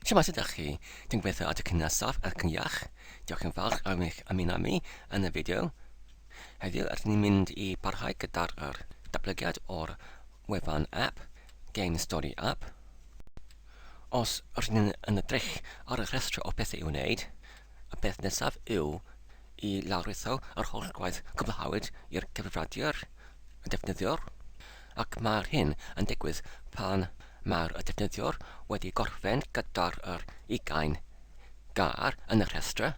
Siamasa da chi. Dwi'n gweithio at y cynasaf ac yn iach. Diolch yn fawr am eich ymuno mi yn y fideo. Heddiw rydyn ni'n mynd i barhau gyda'r er datblygiad o'r wefan app, Game Story App. Os rydyn ni'n yn edrych ar y rhestr o bethau i'w wneud, y peth nesaf yw i lawrlwytho yr holl gwaith cwblhawyd i'r cyfrifiadur, y defnyddiwr. ac mae'r hyn yn digwydd pan mae'r defnyddiwr wedi gorffen gyda'r yr ugain gair yn y rhestr,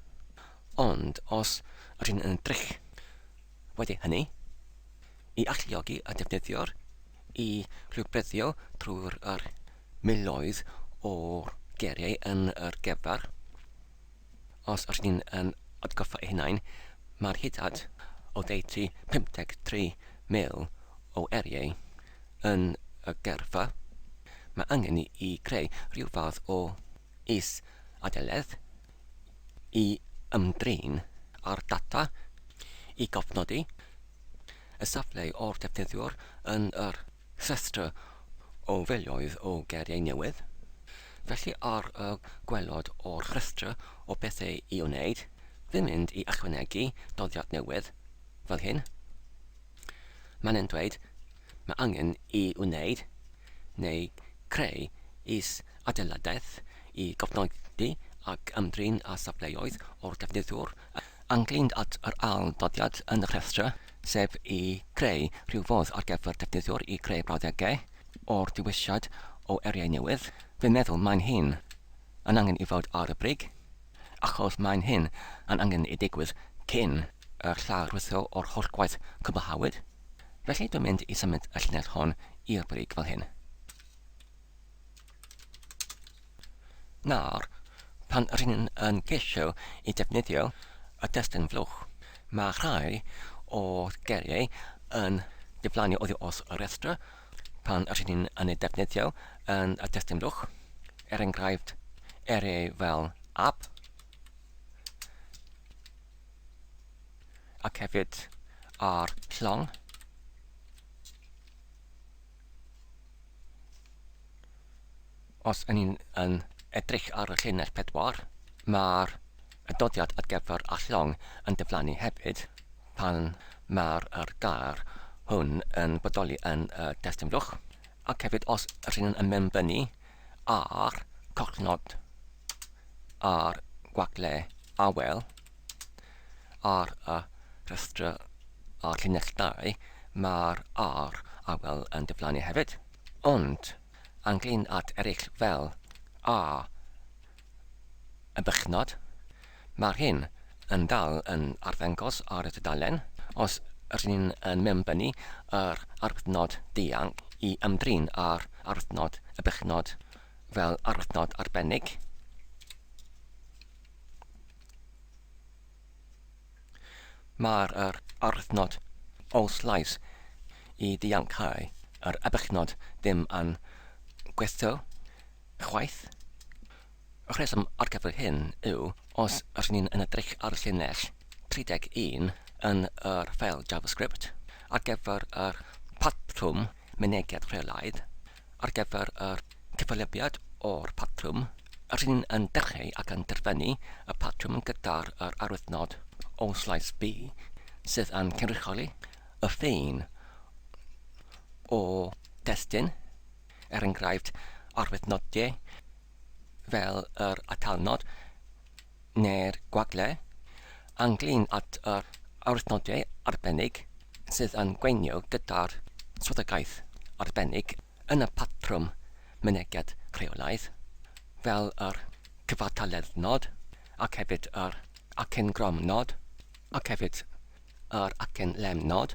ond os rydyn yn drych wedi hynny, i alluogi y defnyddiwr i rhwybreddio trwy'r yr miloedd o geiriau yn yr gefr. Os rydyn ni'n um, atgoffa ei hunain, mae'r hydad oddeutu 53,000 o eriau yn y gyrfa. Mae angen ni i greu rhyw fath o is-adeledd i ymdrin â'r data i gofnodi y safle o'r defnyddiwr yn yr rhestr o filoedd o geriau newydd. Felly ar y gwaelod o'r rhestr o bethau i wneud, fi'n mynd i ychwanegu dyddiad newydd, fel hyn. Mae'n yn dweud mae angen i wneud neu creu is-adeiladaeth i gofnodi ac ymdrin â safleoedd o'r defnyddwr ynglŷn ât yr ail ddyddiad yn y rhestr, sef i greu rhyw fodd ar gyfer defnyddwr i greu brawddegau, O'r diwylliad o eriau newydd, fi'n meddwl mae'n hyn yn angen i fod ar y brig, achos mae'n hyn yn angen i digwydd cyn yr llawrytho o'r holl gwaith cwblhawyd, felly dwi'n mynd i symud y llinell hon i'r brig fel hyn. Nawr, pan ry'n yn ceisio i ddefnyddio y testun flwch, mae rhai o'r geiriau yn diflannu oddi wrth y rhestr pan ry'n yn ei ddefnyddio yn y testun flwch, er enghraifft, eiriau fel 'ab' ac hefyd 'ar llong'. Os y'n ni'n yn edrych ar y llinell pedwar, mae'r adroddiad ar gyfer a llong yn diflannu hefyd pan mae'r yr gair hwn yn bodoli yn y testun fwlch, ac hefyd os ydyn nhw'n ymbenbynnu ar cofnod ar gwagle awel. Ar y rhestrau ar llinell 2, mae'r R awel yn diflannu hefyd. Ond, ynglŷn at eraill fel A y bychnod, mae'r hyn yn dal yn arddangos ar y tudalen os rŷn ni yn mewnbynnu yr arbuthnod dianc i ymdrin â'r arbuthnod y bychnod fel arbuthnod arbennig. Mae'r yr aruthnod os llais i ddianc ai yr abuchnod ddim yn gweithio chwaith. Y rheswm ar gyfer hyn yw os rŷn ni'n yn edrych ar llinell 31 yn yr ffeil JavaScript ar gyfer yr patrwm mynediad rheolaidd, ar gyfer yr cyfalybiad o'r patrwm, yr hyn yn dechreu ac yn derfynu y patrwm gyda'r yr arwyddnod o slais B sydd yn cynrychioli y ffin o destun, er enghraifft, arwyddnod D fel yr atalnod neu'r gwagle, ynglŷn at yr awdurdodau arbennig sydd yn gweithio gyda'r swyddogaeth arbennig yn y patrwm mynediad rheolaidd, fel yr cyfartaledd nod ac hefyd yr acen grom nod ac hefyd yr acen lem nod.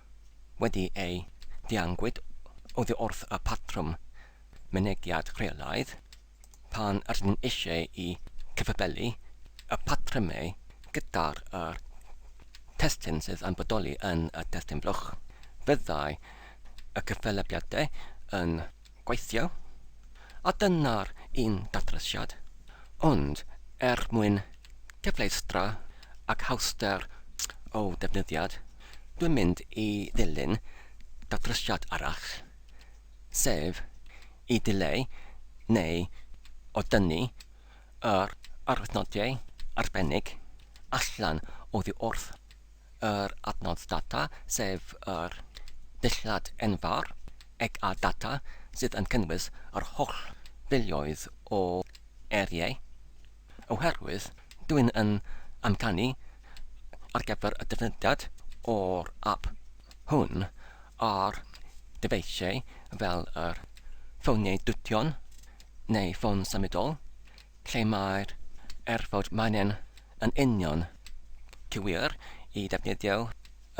wedi ei ddianghwyd oddi wrth y patrwm mynegiad rheolaidd, pan rydyn ni eisiau i gyfabelu y patrymau gyda'r yr testun sydd yn bodoli yn y testun blwch, byddai y cyfalybiadau yn gweithio, a dyna'r un datrysiad, ond er mwyn cyfleustra ac hawster o ddefnyddiad, dwi'n mynd i ddilyn datrysiad arall, sef i ddileu neu odynnu yr arwyddnodiau arbennig allan oddi wrth. yr adnodd data, sef yr dillad enfawr, eg a data sydd yn cynnwys yr holl filoedd o eiriau, oherwydd dw i'n yn amcanu ar gyfer y defnyddiad o'r ap hwn ar ddyfeisiau fel yr ffoniau dution neu ffôn symudol, lle mae'r erfawd manen yn union cywir i ddefnyddio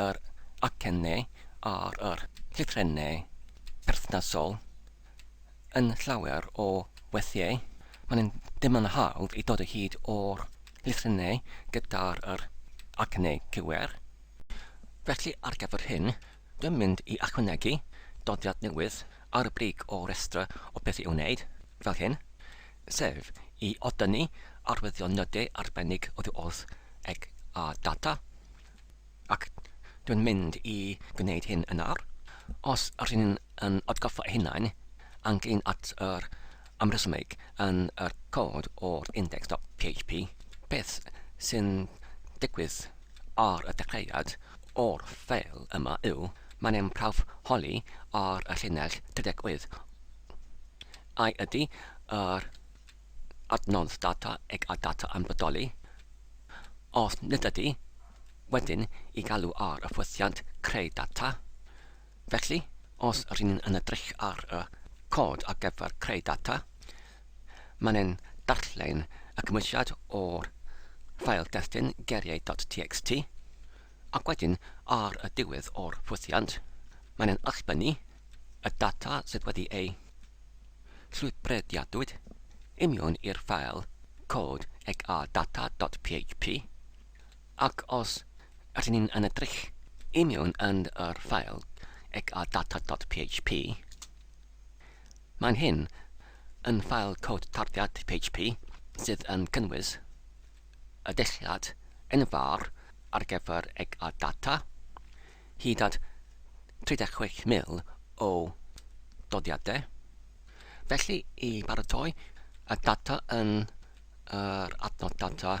yr acennau ar yr llythrennau perthnasol yn llawer o weithiau, mae'n yn ddim yn hawdd i dod o hyd o'r llythrennau gyda'r yr acennau cywir. Felly ar gyfer hyn, Dwi'n mynd i ychwanegu dyddiad newydd ar y brig o restr o beth i'w wneud, fel hyn, sef i oddynnu arwyddion nodau arbennig oddi wrth eg a data, ac dwi'n mynd i gwneud hyn yn ar, os r'yn ni'n atgoffa ein hunain, anglyn at yr amrhysymeg yn y cod o'r index.php, beth sy'n digwydd ar y dechreuad o'r ffeil yma yw, mae'n ein prawf holi ar y llinell 38, ai ydy yr adnodd data ag a data yn bodoli, os nid ydy, wedyn i galw ar y ffwythiant creu data, Felly, os rŷn ni'n yn edrych ar y cod ar gyfer creu data, mae'n ein darllen y cymwysiad o'r ffael destun geiriau.txt, ac wedyn ar y diwedd o'r ffwythiant, mae'n ein allbynnu y data sydd wedi ei llwybrediadwyd i mewn i'r ffael cod eg a data.php. Ac os ydyn ni'n yn edrych i mewn yn yr ffeil ecadata.php, mae'n hyn yn ffeil cod tarddiad PHP sydd yn cynnwys y dulliad enfawr ar gyfer ecadata, hyd at 36,000 o doddiadau. Felly, i baratoi y data yn yr adnod data,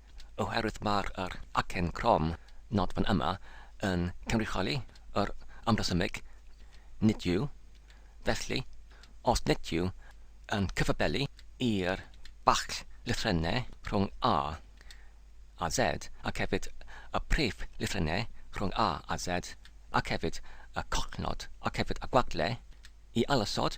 oherwydd mae'r yr acen crom nodfan yma yn cynrychioli yr amrhesymeg nid yw, felly, os nid yw yn cyfabelu i'r bacll lythrennau rhwng A a Z ac hefyd y prif lythrennau rhwng A a Z ac hefyd y collnod ac hefyd y gwagle i ailosod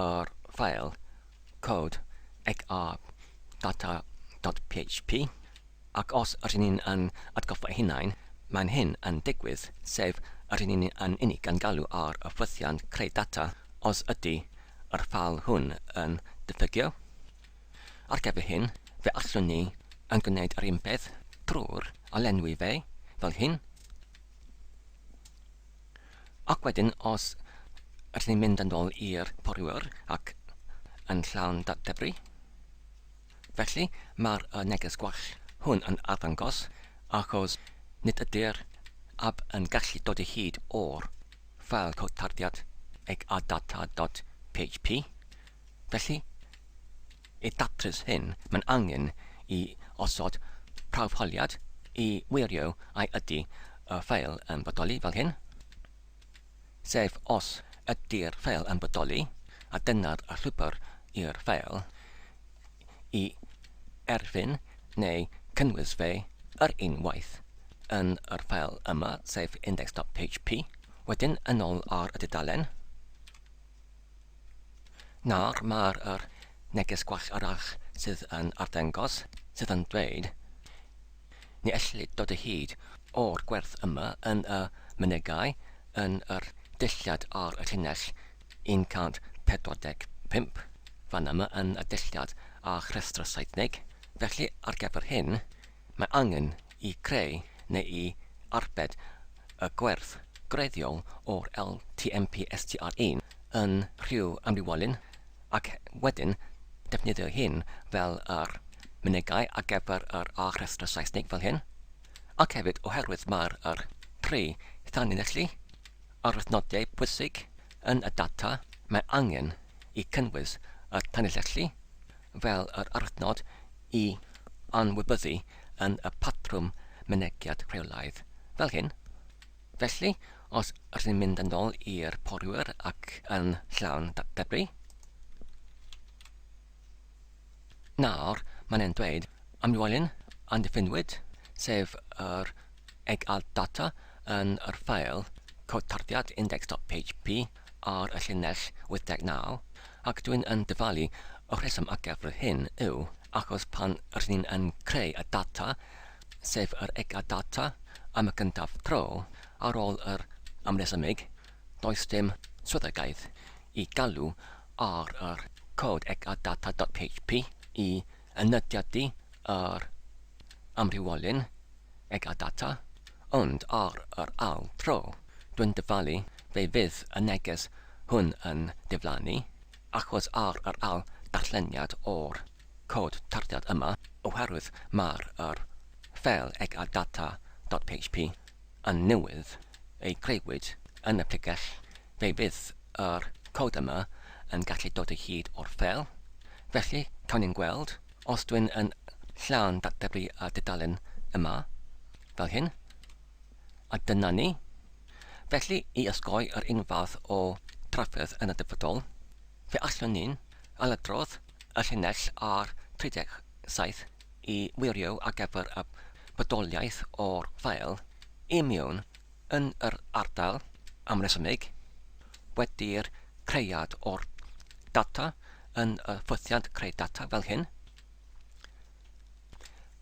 yr ffeil cod xrdata.php, ac os rŷn ni yn atgoffa ein hunain, mae'n hyn yn digwydd, sef rŷn ni yn unig yn galw ar y ffwythiant creu data os ydy yr ffeil hwn yn diffygio. Ar gyfer hyn, fe allwn ni yn gwneud yr un peth drwy'r a lenwi fe fel hyn. Ac wedyn os ydyn ni'n mynd yn ôl i'r poriwyr ac yn llawn debri, felly mae'r y neges gwell hwn yn arddangos achos nid ydy'r ab yn gallu dod o hyd o'r ffael cod tarddiad eg a data dot php, felly I ddatrys hyn, mae'n angen i osod prawf holiad i wirio ai ydy y ffeil yn bodoli fel hyn, sef os ydy'r ffeil yn bodoli, a dyna'r llwybr i'r ffeil, i erfyn neu cynnwys fe yr un waith yn yr ffeil yma, sef index.php, wedyn yn ôl ar y dudalen. Nawr mae'r yr neges gwell arall sydd yn arddengos, sydd yn dweud, Ni ellid dod o hyd o'r gwerth yma yn y mynegai yn yr dulliad ar y llinell 145, fan yma yn y dulliad a rhestr Seithnig, felly ar gyfer hyn, Mae angen i greu neu i arbed y gwerth greiddiol o'r LTMP STR1 yn rhyw ambiwalyn ac wedyn defnyddio hyn fel yr mynegai ar gyfer yr A-rhestr Saesnig fel hyn, ac hefyd oherwydd mae'r yr tri thanlinellu arwyddnodiau pwysig yn y data, mae angen i cynnwys y tanlinellu fel yr arwyddnod i anwybyddu yn y patrwm mynegiad rheolaidd fel hyn. Felly, os rydyn ni'n mynd yn ôl i'r poriwyr ac yn llawn debris, nawr mae'n e'n dweud amlwylyn andiffinwyd, sef yr eg-alt data yn yr ffeil cod tarddiad index.php, ar y llinell 89, ac dwi'n yn dyfalu y rheswm ar gyfer yr hyn yw achos pan rŷn ni'n yn creu y data, sef yr ega data, am y gyntaf tro, ar ôl yr amresymig, does dim swyddogaeth i galw ar yr cod ega data dot php i yn nodiadu yr amrywiolyn eg a data, ond ar yr ail dro, dwi'n dyfalu fe fydd y neges hwn yn diflannu, achos ar yr ail ddarlleniad o'r cod tarddiad yma, oherwydd mae'r yr ffeil eg a data dot php yn newydd ei greuwyd yn y pregell Fe fydd yr cod yma yn gallu dod o hyd o'r ffeil, felly cawn ni'n gweld os dwi'n yn llawn datblygu y dudalen yma, fel hyn, a dyna ni. Felly, i osgoi yr un fath o drafferth yn y dyfodol, fe allwn ni'n ailadrodd y llinell ar 37 i wirio ar gyfer y bodoliaeth o'r ffeil i mewn yn yr ardal amresymig wedi'r creiad o'r data yn y ffwythiant creu data fel hyn.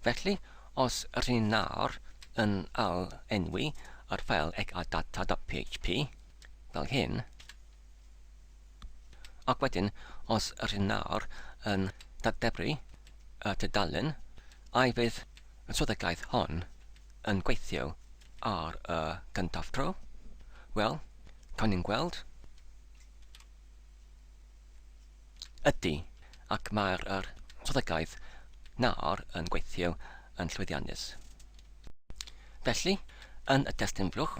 Felly, os rydyn ni nawr yn al enwi yr ffeil egadata.php fel hyn, ac wedyn os rydyn ni nawr yn datebru y tudalen, a'i fydd y swyddogaeth hon yn gweithio ar y gyntaf tro, wel, cawn ni'n gweld. Ydy, ac mae'r yr strategaeth nawr yn gweithio yn llwyddiannus. Felly, yn y testun flwch,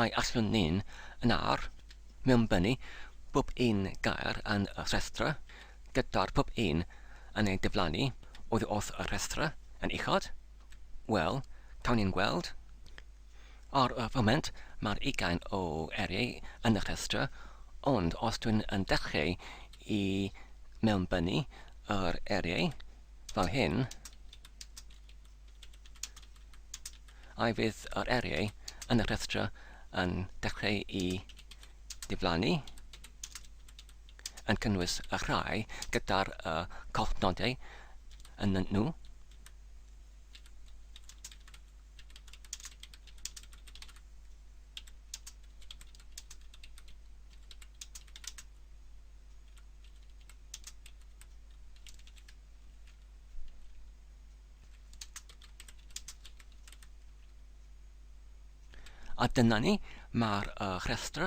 ai allwn ni'n yn ar mewnbynnu pob un gair yn y rhestra, gyda'r pob un yn ei diflannu oddi wrth y rhestra yn uchod? Wel, cawn ni'n gweld. Ar y foment, mae'r ugain o eiriau yn y rhestr, ond os dwi'n yn dechreu i mewnbynnu yr eiriau fel hyn, ai fydd yr eiriau yn y rhestr yn dechreu i ddiflannu, yn cynnwys y rhai gyda'r y collnodau yn nhw? A dyna ni, mae'r uh, rhestr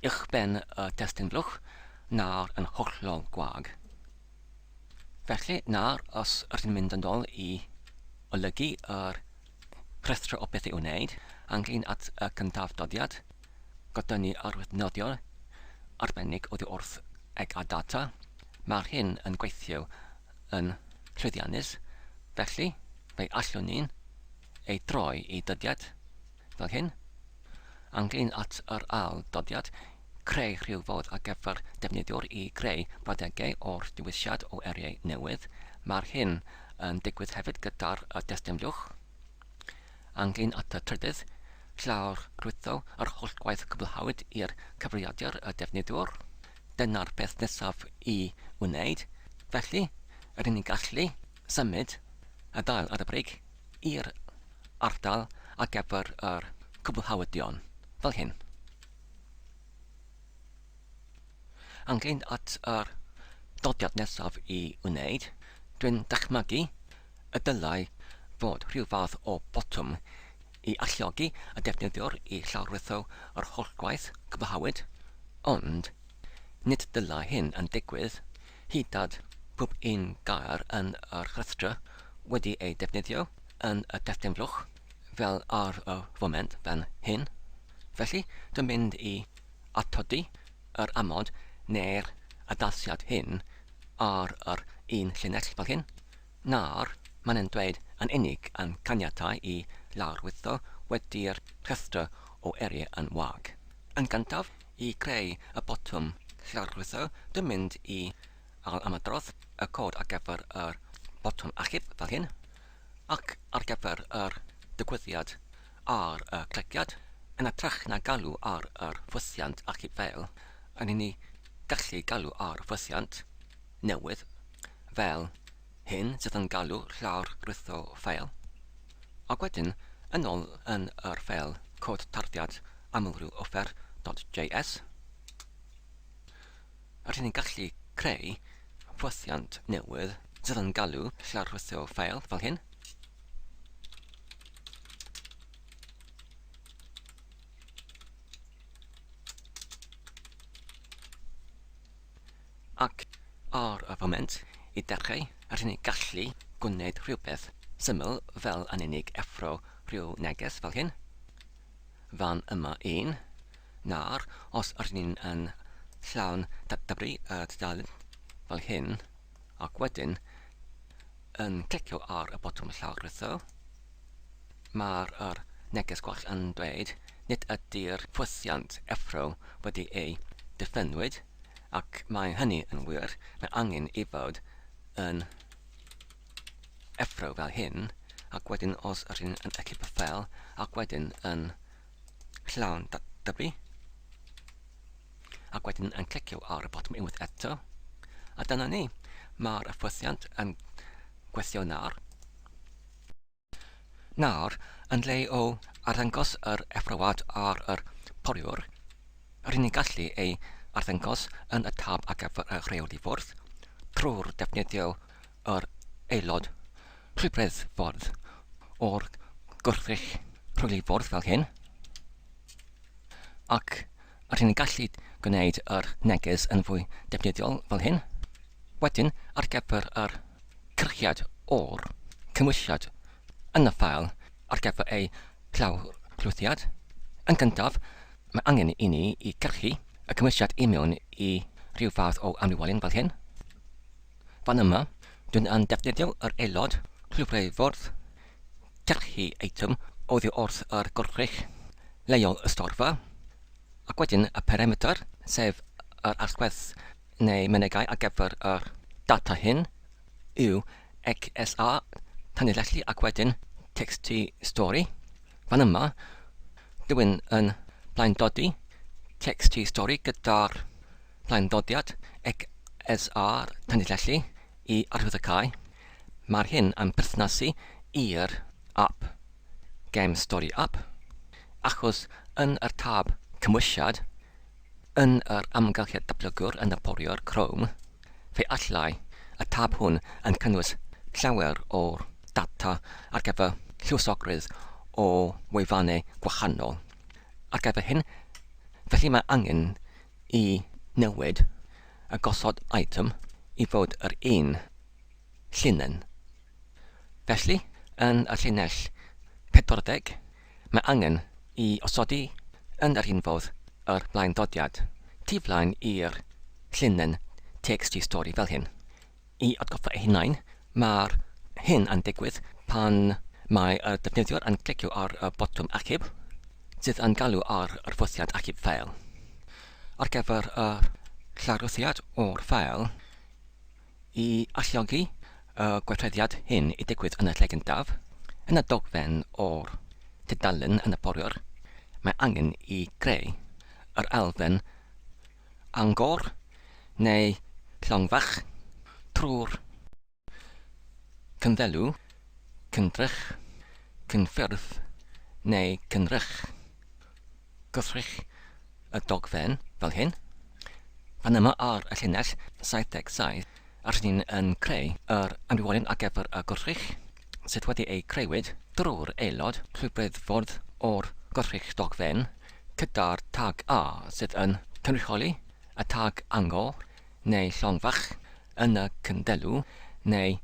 uwchben y testun blwch nawr yn hollol gwag. Felly, nawr, os rydyn mynd yn ôl i olygu yr rhestr o beth i'w wneud, anghlin at y cyntaf dyddiad, gyda ni arwydd nofio arbennig oddi wrth eg a data, mae'r hyn yn gweithio yn llwyddiannus, felly, fe allwn ni'n ei droi i dyddiad fel hyn, ynglŷn at yr ail-dyddiad, creu rhyw fodd ar gyfer defnyddiwr i greu brawddegau o'r dewisiad o eiriau newydd, mae'r hyn yn digwydd hefyd gyda'r destynfliwch. Ynglŷn at y trydydd, llawrlwytho yr holl gwaith cwblhawyd i'r cyfrifiadur y defnyddiwr. Dyna'r peth nesaf i wneud, felly, yr unig gallu, symud y dail ar y brig. i'r ardal ar gyfer yr cwblhawyddion fel hyn. Anghynt at yr dodiad nesaf i wneud, dwi'n dychmygu y dylai fod rhyw fath o botwm i alluogi y defnyddiwr i llawrlwytho yr holl gwaith cwblhawyd, ond nid dylai hyn yn digwydd Hithad, pob un gair yn yr rhestrau wedi ei defnyddio yn y testun fluch, fel ar y foment fan hyn. Felly, dwi'n mynd i atodi yr amod neu'r addasiad hyn ar yr un llinell fel hyn, na'r mae'n yn dweud yn unig yn caniatáu i lawrlwytho wedi'r rhestr o eiriau yn wag. Yn gyntaf, i greu y botwm llygrwytho dwi'n mynd i ailymadrodd y cod ar gyfer yr botwm achub fel hyn, ac ar gyfer yr digwyddiad ar y clegiad, yn ytrach na galw ar yr ffwythiant achub fel hyn ni gallu galw ar ffwythiant newydd fel hyn sydd yn galw llawr gwrtho ffeil, ac wedyn yn ôl yn yr ffeil cod tarddiad amlrhyw offer dot JS, rydyn ni'n gallu creu fwthiant newydd sydd yn galw llawr gwrtho ffeil fel hyn. Ac ar y foment, i dechrau, yr hyn i gallu gwneud rhywbeth syml fel yn unig effro rhyw neges fel hyn, fan yma un, nawr, os yr hyn yn llawn dybri y tudalen fel hyn, Ac wedyn, yn clicio ar y botwm llawrytho, mae'r yr neges gwell yn dweud nid ydy'r ffwythiant effro wedi ei ddiffynwyd, ac mae hynny yn wir, mae angen i fod yn effro fel hyn, ac wedyn os rydyn yn y llif fel, ac wedyn yn llawn dyblu ac wedyn yn clicio ar y botwm unwaith eto a dyna ni, mae'r hyfforddiant yn gweithio nawr. Nawr, yn le o arddangos yr effrywad ar yr poliwr, rydyn ni'n gallu ei arddangos yn y tab ar gyfer y rheoli fwrdd trwy'r defnyddio yr aelod rhybredd ffordd o'r gwrthrych rhwyl i fwrdd fel hyn, ac rydyn ni'n gallu gwneud yr neges yn fwy defnyddiol fel hyn. Wedyn, ar gyfer yr cyrchiad o'r cymwysiad yn y ffael ar gyfer ei llawrlwythiad, yn gyntaf, mae angen i ni i gyrchu y cymwysiad i mewn i ryw fath o amrywiolyn fel hyn. Fan yma, dyn yn defnyddio yr aelod clwyfriffordd Delhi eitem oddi wrth yr gwrthrych leol y storfa, ac wedyn y perimetr, sef yr allwedd neu mynegai ar gyfer yr data hyn, yw XSA tanlinellu ac wedyn txt stori. Fan yma, dyn yn blaendodi txt stori gyda'r Plaendodiad XSR Tanilellu i Arwyddocae, mae'r hyn am berthnasu i'r ap Game Story App, achos yn yr tab Cymwysiad yn yr amgylchedd datblygwr yn ddarparwr Chrome, fe allai y tab hwn yn cynnwys llawer o'r data ar gyfer lluosogrwydd o wefannau gwahanol. Ar gyfer hyn, felly mae angen i newid a gosod item i fod yr un llinyn. Felly, yn y llinell 40, mae angen i osodi yn yr un fodd yr blaendodiad tu flaen i'r llinyn txt stori fel hyn. I atgoffa eu hunain, mae'r hyn yn digwydd pan mae y defnyddiwr yn clicio ar y botwm Achub, sydd yn galw ar yr fwriad achub ffeil. Ar gyfer y llarwyddiad o'r ffeil, i alluogi y gweithrediad hyn i digwydd yn y lle gyntaf, yn y dogfen o'r tudalen yn y poriwr, mae angen i greu yr elfen Angor, neu Llongfach, trwy'r Cynddelw, Cyndrych, Cynffyrdd neu Cynrych. Gwrthrych y dogfen fel hyn. Fan yma ar y llinell 77 rydyn ni yn creu yr ambiwolion ar gyfer y gwrthrych sydd wedi eu creuwyd drwy'r aelod rhyddfwrdd o'r gwrthrych dogfen gyda'r tag A sydd yn cynrychioli y tag angor neu llong fach yn y cyndelw neu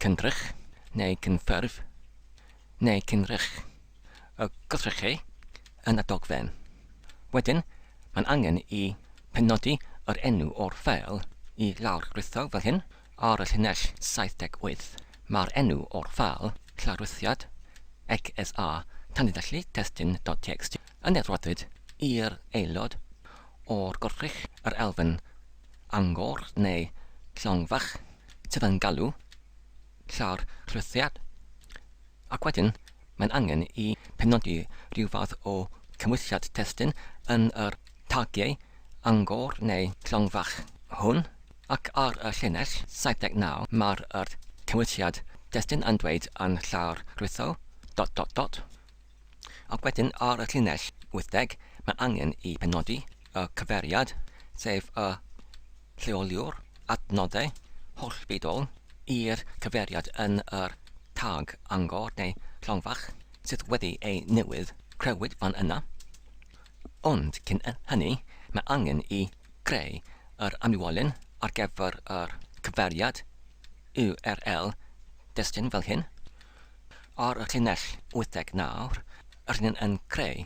cyndrych neu cynffurf neu cynrych y gwrthrychau yn y dogfen. Wedyn, mae'n angen i penodi yr enw o'r ffeil i lawrlwytho fel hyn, Ar y llinell 78, mae'r enw o'r ffeil, Lawrythiad, XSA, Tanlinellu Testun dot txt, yn edrodyd i'r aelod o'r gwrthrych, yr elfen angor neu llong fach sydd yn galw, Llarclythiad, Ac wedyn, mae'n angen i penodi rhyw fath o gymwysiad testun yn yr tagiau angor neu llong fach hwn, ac ar y llinell 79 mae'r yr cymwysiad testun yn dweud yn llawr rwytho dot dot dot. Ac wedyn ar y llinell 80 mae'n angen i penodi y cyfeiriad, sef y Lleoli'r adnoddau hollbudol i'r cyfeiriad yn yr tag angor neu llongfach sydd wedi ei newid, crëwyd fan yna. Ond cyn hynny, mae angen i greu yr amlwolyn ar gyfer yr cyfeiriad url destun fel hyn. Ar y llinell wytheg nawr, rydyn yn creu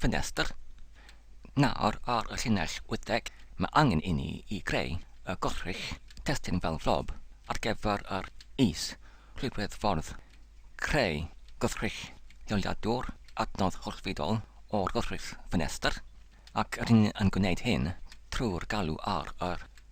ffenestr. Nawr ar y llinell wyddeg, mae angen i ni i greu y gorchudd testun fel flob ar gyfer yr is rhywbryd ffordd creu gorchudd lleoliadwr adnodd gorchfydol o'r gorchudd ffenestr ac rŷn yn gwneud hyn trwy'r galw ar yr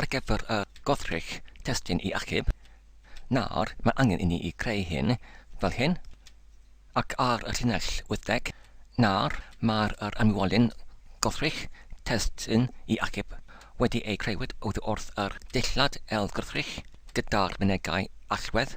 Ar gyfer y gwrthrych testun i achub, nawr mae angen inni i greu hyn fel hyn, ac ar y llinell wythdeg, nawr mae'r yr anwolyn gwrthrych testun i achub wedi ei creuwyd oddi wrth yr dillad ailgwrthrych gyda'r mynegai allwedd.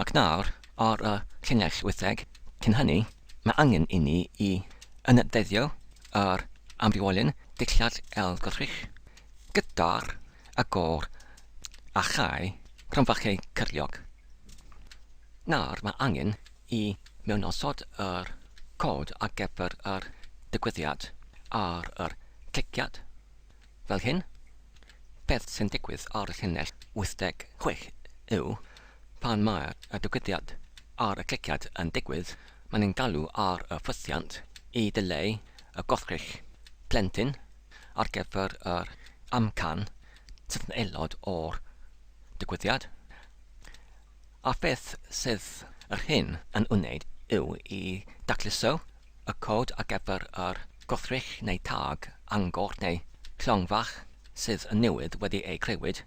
Ac nawr, ar y llinell wytheg cyn hynny, mae angen inni i ynadleddio yr amrywiolyn dillad ailgylchrych gyda'r agor a chau cromfachau cyrliog. Nawr mae angen i mewnosod yr cod ar gyfer yr digwyddiad ar yr cliciad. Fel hyn, beth sy'n digwydd ar y llinell 86 yw, pan mae y digwyddiad ar y cliciad yn digwydd, mae'n yn galw ar y ffwythiant i ddileu y gwrthrych plentyn ar gyfer yr amcan sydd yn aelod o'r digwyddiad. A beth sydd yr hyn yn wneud yw i dacluso Y cod ar gyfer yr gwrthrych neu tâg angor neu llong fach sydd yn newydd wedi eu creuwyd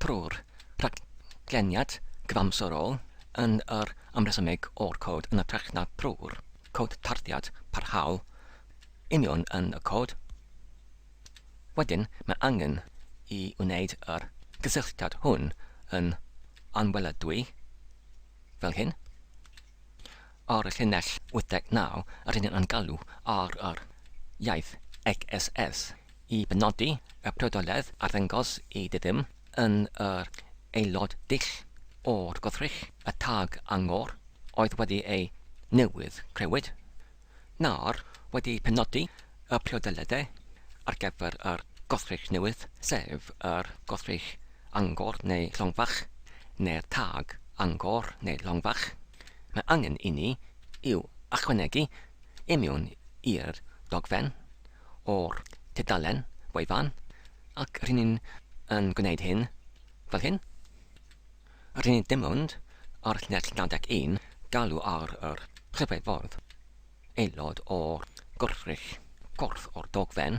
trwy'r rhagleniad cyfamserol yn yr amresymeg o'r cod yn hytrach na thrwy'r cod tarddiad parhaol union yn y cod, wedyn mae angen i wneud yr gysylltiad hwn yn anweledwy fel hyn. Ar y llinell 89, rydyn yn galw ar yr iaith XSS i benodi y priodoledd arddangos i ddiddym yn yr aelod dull o'r gwrthrych, y tag angor, oedd wedi ei newydd crewyd. Nawr, wedi penodi y priodoliadau ar gyfer yr gwrthrych newydd, sef yr gwrthrych angor neu llongfach, neu'r tag angor neu llongfach, mae angen inni i'w ychwanegu i mewn i'r dogfen o'r tudalen wefan, ac r'yn ni yn gwneud hyn fel hyn. Rŷn ni dim ond, ar lles 91, galw ar yr Rhyfeddod, aelod o'r gwrthrych, corff o'r dogfen,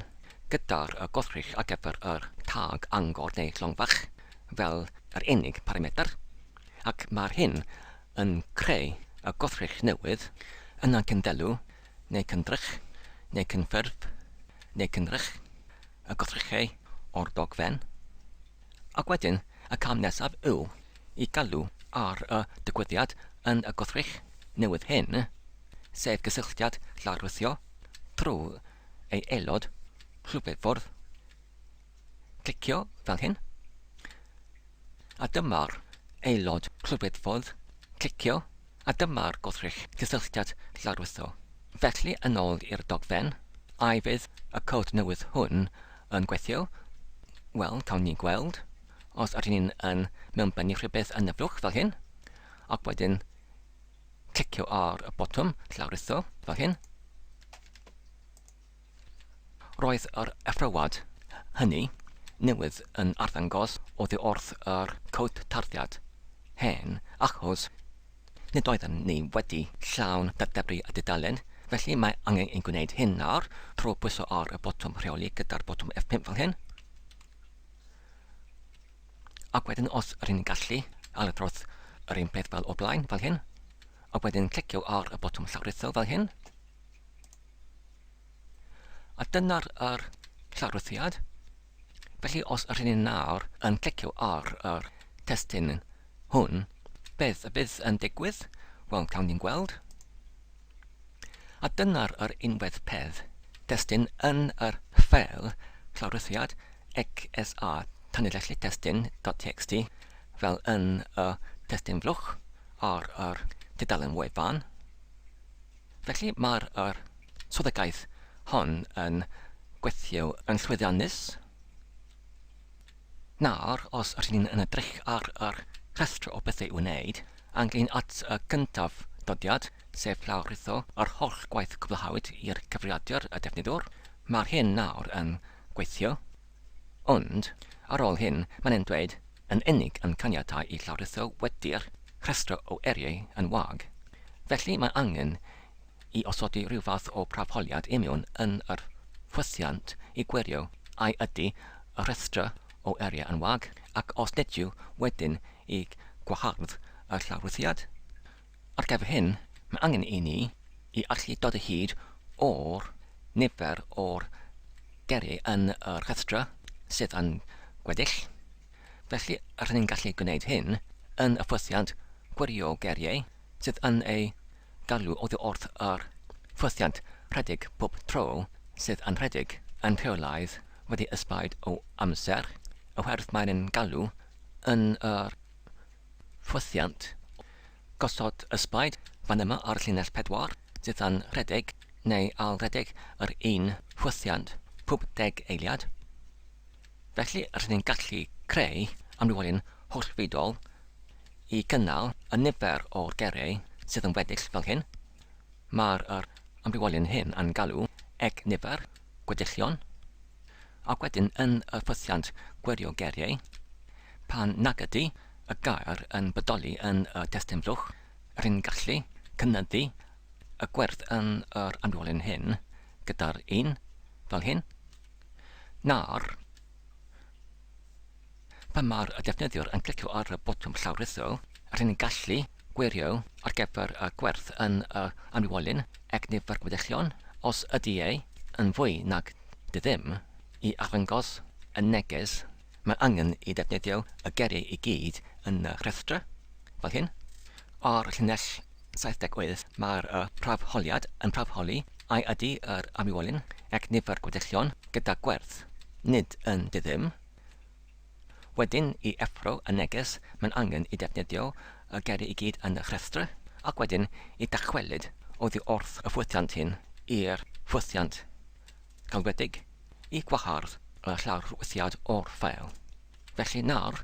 gyda'r y gwrthrych ar gyfer yr tag angor neu llongfach fel yr unig parametr, ac mae'r hyn yn creu y gwrthrych newydd yna'n cynddelw, neu cyndrych, neu cynffurf, neu cynrych, y gwrthrychau o'r dogfen. Ac wedyn, y cam nesaf yw i galw ar y digwyddiad yn y gwrthrych newydd hyn, sef cysylltiad lawrlwytho trwy ei aelod rhyfeddfwrdd. Clicio fel hyn, a dyma'r aelod rhyfeddfwrdd. Clicio. a dyma'r gwrthrych gysylltiad lawrlwythol. Felly, yn ôl i'r dogfen, a fydd y cod newydd hwn yn gweithio? Wel, cawn ni gweld. Os ydyn ni'n yn mewnbennu rhywbeth yn y blwch fel hyn, ac wedyn clicio ar y botwm llawrlwytho fel hyn, Roedd yr athrawad hynny newydd yn arddangos oddi wrth yr cwt tarddiad hen achos nid oedden ni wedi llawn dybri y dudalen, felly mae angen ei gwneud hyn nawr trwy bwyso ar y botwm rheoli gyda'r botwm F5 fel hyn. Ac wedyn os rydyn ni'n gallu, ailadrodd yr un peth fel o'r blaen, fel hyn. Ac wedyn clicio ar y botwm llawrytho fel hyn. A dyna'r yr traddodiad. Felly os ydyn ni nawr yn clicio ar yr testyn hwn, beth y bydd yn digwydd? Wel, cawn ni'n gweld. A dyna'r yr unwedd peth, testyn yn yr ffeil traddodiad XSA tanlinellu testyn.txt fel yn y testyn flwch ar yr tudalen wefan. Felly, mae'r yr swyddogaeth hon yn gweithio yn llwyddiannus. Nawr, os rydyn ni'n yn edrych ar yr rhestr o bethau i wneud, a'n glin at y gyntaf dodiad, sef llawrlwytho yr holl gwaith cwblhawyd i'r cyfrifiadur y defnyddwr, mae'r hyn nawr yn gweithio. Ond, ar ôl hyn, mae'n e'n dweud, yn unig yn caniatáu i lawrlwytho wedi'r rhestr o eiriau yn wag. Felly, mae angen i osodi rhyw fath o brafholiad imiwn yn yr rhwythiant i gwirio ai ydy y rhestr o eiriau yn wag, ac os nid yw, wedyn i gwahardd y llawrlwythiad. Ar gyfer hyn, mae angen i ni i allu dod o hyd o'r nifer o'r geri yn y rhestrau sydd yn gweddill, felly r'yn ni'n gallu gwneud hyn yn y ffwythiant gwirio geriau sydd yn ei galw oddi wrth yr ffwythiant rhedeg pob tro sydd yn rhedeg yn rheolaidd wedi ysbaid o amser oherwydd mae'n galw yn yr Ffwythiant, Gosod ysbaid fan yma ar llinell pedwar, dydan rhedeg neu ail-redeg yr un ffwythiant pob deg eiliad. Felly rydyn ni'n gallu creu amrywiolyn hollfeidol i gynnal y nifer o'r gerei sydd yn weddill fel hyn. Mae'r yr amrywiolyn hyn yn galw ec nifer gweddillion. ac wedyn yn y ffythiant gwirio geiriau, pan nag ydy y gair yn bodoli yn y testun blwch, rŷn gallu cynyddu y gwerth yn yr amrywlun hyn gyda'r un, fel hyn, na'r Pan mae'r defnyddiwr yn clicio ar y botwm llawrythol, rŷn ni'n gallu gwirio ar gyfer y gwerth yn y anwywolyn ag nifer gweddillion, os ydy e yn fwy nag dy ddim, i arddangos y neges. Mae angen i ddefnyddio y geiriau i gyd yn y rhestr, fel hyn. Ar llinell 78 mae'r prawf holiad yn prawf holi ai ydy yr anwywolyn ag nifer gweddillion gyda gwerth nid yn dy ddim, Wedyn, i effro y neges, mae'n angen i defnyddio y geiriau i gyd yn y rhestr, ac wedyn i dachwelyd oddi wrth y ffwythiant hyn i'r ffwythiant galwedig i gwahardd y llawrwythiad o'r ffeil. Felly nawr,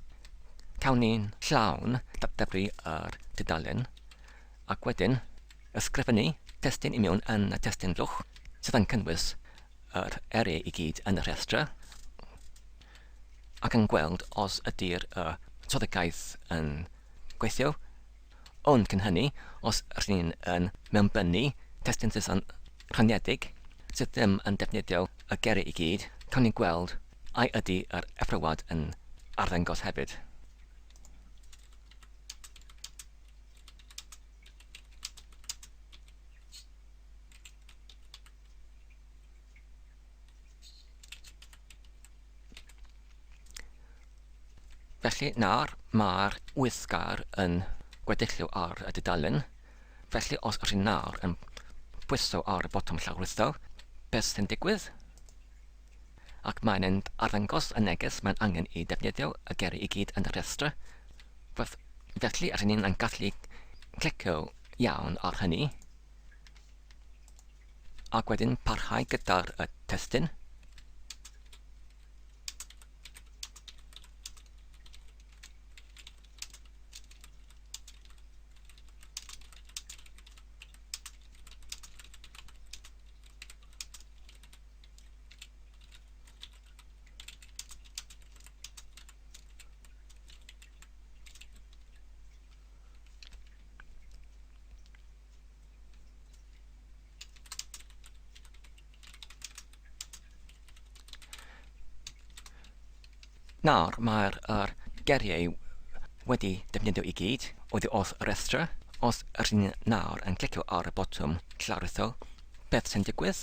cawn ni'n llawn datblygu yr dudalen, ac wedyn ysgrifennu testun i mewn yn y testun drwch, sydd yn cynnwys yr eiriau i gyd yn y rhestr ac yn gweld os ydy'r y troddigaeth yn gweithio, ond cyn hynny, os r'yn yn mewnbynnu testun Saeson rhaniedig sydd ddim yn defnyddio y geiriau i gyd, cawn ni gweld ai ydy yr effrywad yn arddangos hefyd. Felly nawr mae'r wythgar yn gweddilliw ar y dudalen, felly os ydych chi nawr yn pwyso ar y botwm llawrlwytho, beth sy'n digwydd? Ac mae'n mynd arddangos y neges mae'n angen i ddefnyddio y geri i gyd yn y rhestr. Felly rydyn ni'n gallu clicio iawn ar hynny. Ac wedyn parhau gyda'r uh, testyn. Nawr, mae'r er geriau wedi defnyddio i gyd oedd wrth y rhestra. Os ydych chi'n nawr yn clicio ar y botwm clawritho, beth sy'n digwydd?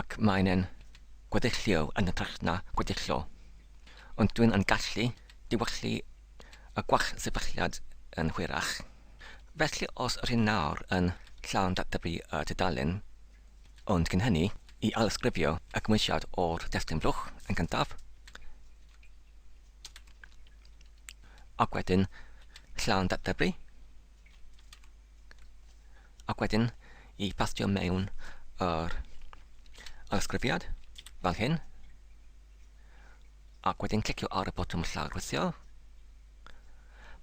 ac maen yn gweddilliw yn hytrach na gweddillo, ond dwyn yn gallu diwallu y gwall sefylliad yn hwyrach. Felly os r'yn nawr yn llawn datblygu y tudalen, ond cyn hynny, i ailysgrifio y cymwysiad o'r testun blwch yn gyntaf, ac wedyn llawn datblygu, ac wedyn i pastio mewn yr ysgrifiad fel hyn ac wedyn clicio ar y botwm llawrythio.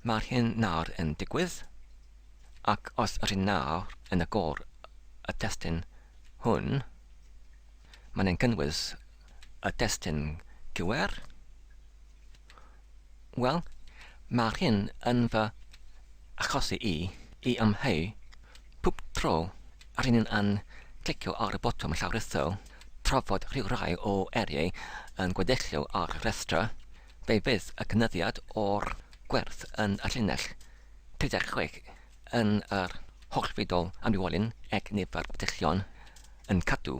Mae'r hyn nawr yn digwydd ac os yr hyn nawr yn agor y testyn hwn, mae'n ein cynnwys y testyn QR Wel, mae hyn yn fy achosi i i amheu pob tro rŷn ni yn clicio ar y botwm llawrytho tra fod rhyw rai o eiriau yn gweddilliw ar y rhestr, fe fydd y cynyddiad o'r gwerth yn y llinell 36 yn yr holl fudol amrywiolyn ec nifer gweddillion yn cadw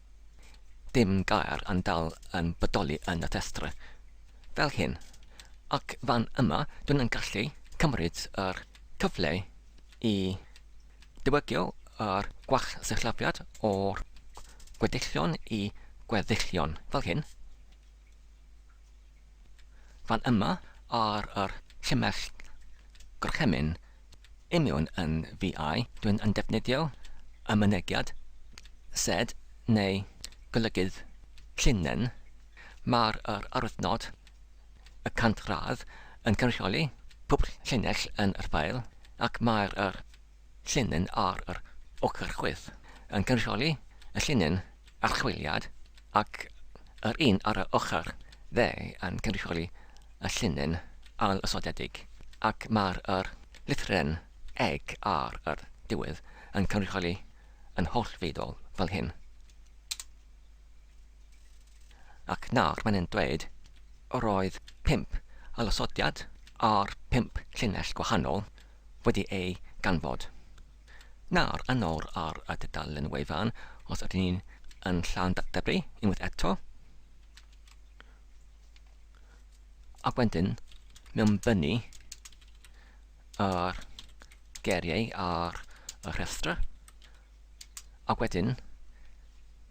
Dim gair yn dal yn bodoli yn y rhestr fel hyn, ac fan yma dw i'n gallu cymryd yr cyfle i ddiwygio yr gwaith-sillafiad o'r gweddillion i gweddillion, fel hyn, fan yma ar yr llinell gorchymyn Union yn VI, dwi'n yn defnyddio y mynegiad sed neu golygydd llinyn. Mae'r yr arwyddnod y cant gradd yn cynrychioli pob llinell yn yr ffeil ac mae'r yr llinyn ar yr ochr chwith yn cynrychioli y llinyn archwiliad ac yr un ar yr ochr dde yn cynrychioli y llinyn ail-ysodedig ac mae'r yr lythyren eg ar yr diwedd yn cynrychioli yn hollfeiddiol fel hyn. Ac nawr mae'n yn dweud yr oedd pump ailosodiad ar pump llinell gwahanol wedi ei ganfod. Nawr, yn ôl ar y dudalen wefan, os ydyn ni yn llawn datblygu unwaith eto, ac wedyn mewnbynnu yr geriau ar y rhestr, ac wedyn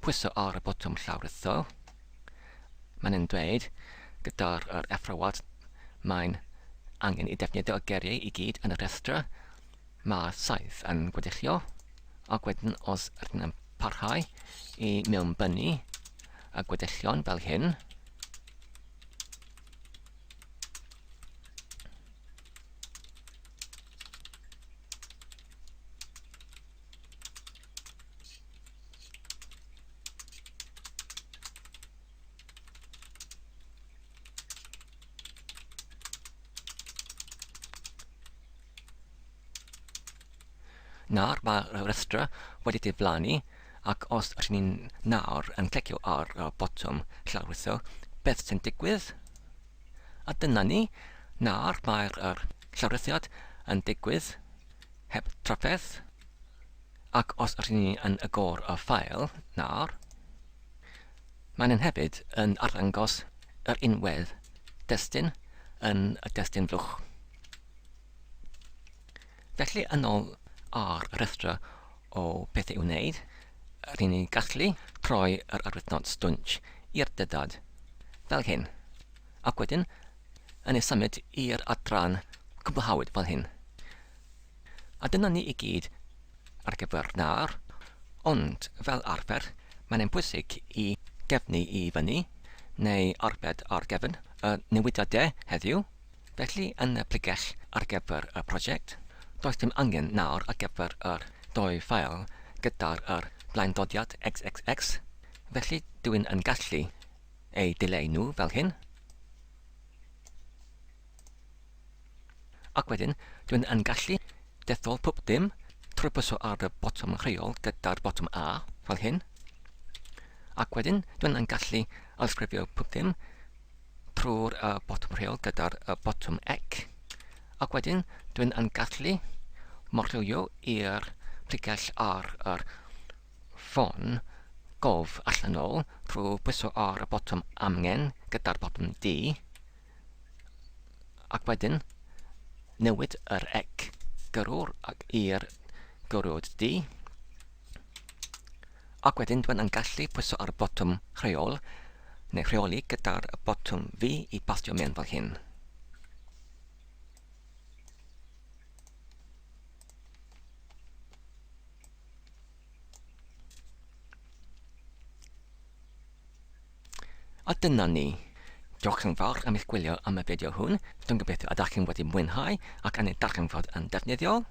pwyso ar y botwm llawrytho, mae'n yn dweud gyda'r er effrawad mae'n angen i defnyddio y geriau i gyd yn y rhestr, Mae'r saeth yn gweddillo, ac wedyn os ydyn yn parhau i mewnbynnu y gweddillion fel hyn, Nawr mae'r rhestr wedi diflannu ac os rydyn ni'n nawr yn clicio ar botwm llawrlwytho, beth sy'n digwydd? A dyna ni, nawr mae'r llawrlwythiad yn digwydd heb drafferth ac os rydyn ni yn agor y ffael nawr, Maen hefyd yn arddangos yr unwedd destun yn y destun flwch. Felly yn ôl ar y rhestr o bethau i'w wneud, rydyn ni'n gallu troi yr arwyddnod stwnc i'r dyddiad, fel hyn, ac wedyn yn ei symud i'r adran cwblhawyd, fel hyn. A dyna ni i gyd ar gyfer nawr, ond fel arfer mae'n ein pwysig i gefnu i fyny, neu arbed ar gefn y newidiade heddiw, felly yn y pregeth ar gyfer y prosiect, does dim angen nawr ar gyfer yr dou ffael gyda'r yr blaendodiad xxx, felly dw i'n yn gallu eu dileu nhw fel hyn. Ac wedyn, dwi'n yn gallu dethol pob dim trwy pwyso ar y botwm rheol gyda'r botwm A, fel hyn. Ac wedyn, dwi'n yn gallu ailsgrifio pob dim trwy'r uh, botwm rheol gyda'r uh, botwm ec. Ac wedyn, dwi'n yn gallu morlywio i'r pregell ar yr ffôn gof allanol trwy bwyso ar y botwm amgen gyda'r botwm D. Ac wedyn, newid yr ec gyrrwr ac i'r gyrrwyd di. Ac wedyn dwi'n yn gallu pwyso ar y botwm rheol neu rheoli gyda'r botwm fi i bastio mewn fel hyn. A dyna ni. Diolch yn fawr am eich gwylio am y fideo hwn, dwi'n gobeithio y dach chi'n wedi mwynhau ac yn ei darganfod yn ddefnyddiol.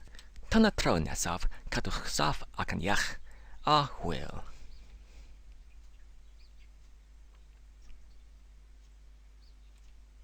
Tan y tro nesaf, cadwch saff ac yn iach, a hwyl!